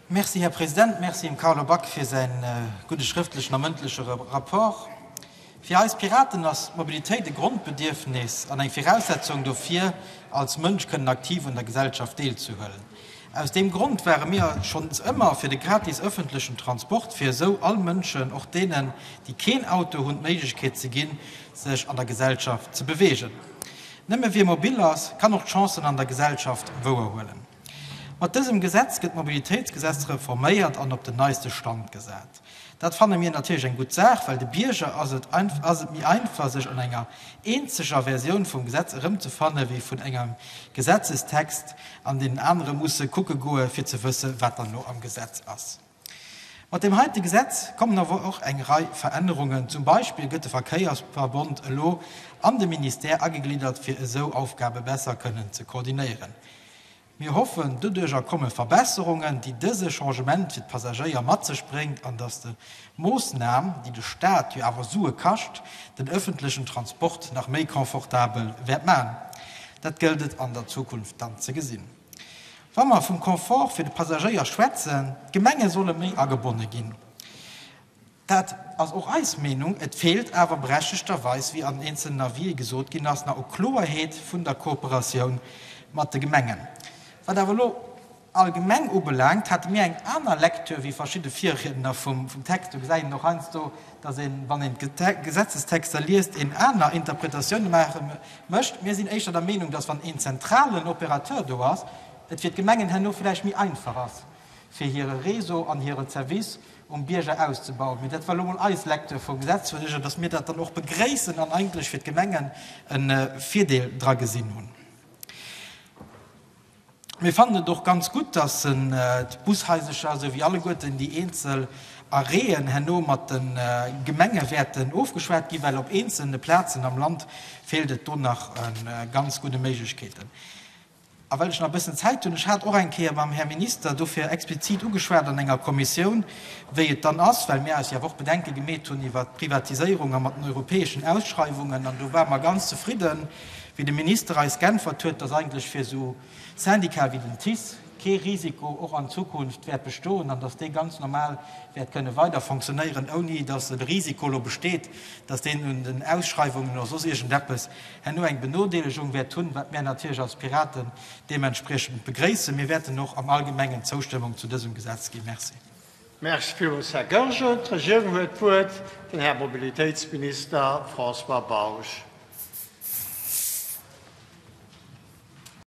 Merci, Här President. Merci dem Carlo Back fir säi gudde schrëftlechen a mëndleche Rapport. Fir eis Piraten ass d'Mobilitéit e Grondbedierfnis an eng Viraussetzung dofir, als Mënsch kënnen aktiv un der Gesellschaft deelzehuelen. Aus deem Grond ware mir schonns ëmmer fir de gratis ëffentlechen Transport, fir esou all Mënschen, och deenen, déi keen Auto hunn, d'Méiglechkeet ze ginn, sech an der Gesellschaft ze beweegen. Nëmme wie mobil ass, kann och d'Chancen an der Gesellschaft wouer huelen. Mat dësem Gesetz gëtt d'Mobilitéitsgesetz reforméiert an op den neiste Stand gesat. Dat fanne mir natierlech eng gutt Saach, well de Bierger ass et ass et méi einfach, sech an enger eenzeger Versioun vum Gesetz erëmzefanne wéi vun engem Gesetzestext, an deenen anere musse kucke goe fir ze wësse wat dann elo am Gesetz ass. Mat deem heite Gesetz kommen awer och eng Rei Verännerungen. Zum Beispill gëtt de Verkéiersverbond elo an de Ministère agegliddert, fir esou Aufgabe besser kënnen ze koordinéieren. Mir hoffen, doduercher komme Verbesserungen, déi dëse Changement fir d'Passagéier mat sech bréngt an datt de Moossnam, déi de Staat jo awer Sue kascht, den öffentlechen Transport nach méi confortabel wäert maachen. Dat gëllt et an der Zukunft dann ze gesinn. Wa mer vum Confort fir de Passagéier schwätzen, d'Gemenge solle méi agebonne ginn, dat ass och eis Meenung. Et feelt awer berechtegterweis, wéi an eenzelnen Avisë gesot ginn ass, nach u Kloeerheet vun der Kooperatioun mat de Gemengen. Wat awer elo allgemeng ubelaangt, hate mir eng aner Lektür wéi verschidde Virriedner vum Text. Do gesäit een och heiansdo, dass een, wann een d'Gesetzestexter liest, een aner Interpretatioune maache Mécht. Mir sinn éischter der Meenung, dass, wann een zentralen Opérateur do ass, et fir d'Gemengen herno villäicht méi einfach ass, fir hire Réseau an hire Zervice um Bierger auszebauen. Mee dat war elo emol eis Lecture vum Gesetz. Huet ech jo, dass mir dat dann och begréissen an eigentlech fir d'Gemengen e Virdeel dra gesinn hunn. Mir fannen et och ganz gutt, dass en d'Bushaisercher, esou wéi alleguerten déi eenzel Arrêten, herno mat de Gemenge wäerten ofgeschwat ginn, well op eenzelne Plazen am Land feelt et do nach u ganz gudde Méiglechkeeten. A well ech nach e bëssen Zäit hunn, ech hat och eng Kéier mam Här Minister dofir explizit ugeschwat an enger Kommissioun, wéi et dann ass, well mir eis jo awer och Bedenke gemeet hunn iwwert d'Privatiséierung a mat den europäeschen Ausschreiwungen, an do ware mer ganz zefridden, Wéi de Minister eis geäntwert huet, dass eigentlech fir esou Syndicate wéi den TICE kee Risiko och an Zukunft wäert bestoen an dass dee ganz normal wäert kënne weider fonctionnéieren, ouni dass e Risiko elo besteet, dass deen un den Ausschreiwungen oder soss iergendeppes herno eng Benodeelegung wäert hunn, wat mär natierlech als Piraten deementspriechend begréissen. Mir wäerten och am Allgemengen d'Zoustëmmung zu dësem Gesetz ginn. Merci. Merci villmools, Här Goergen. D'Regierung huet d'Wuert, den Här Mobilitéitsminister François Bausch.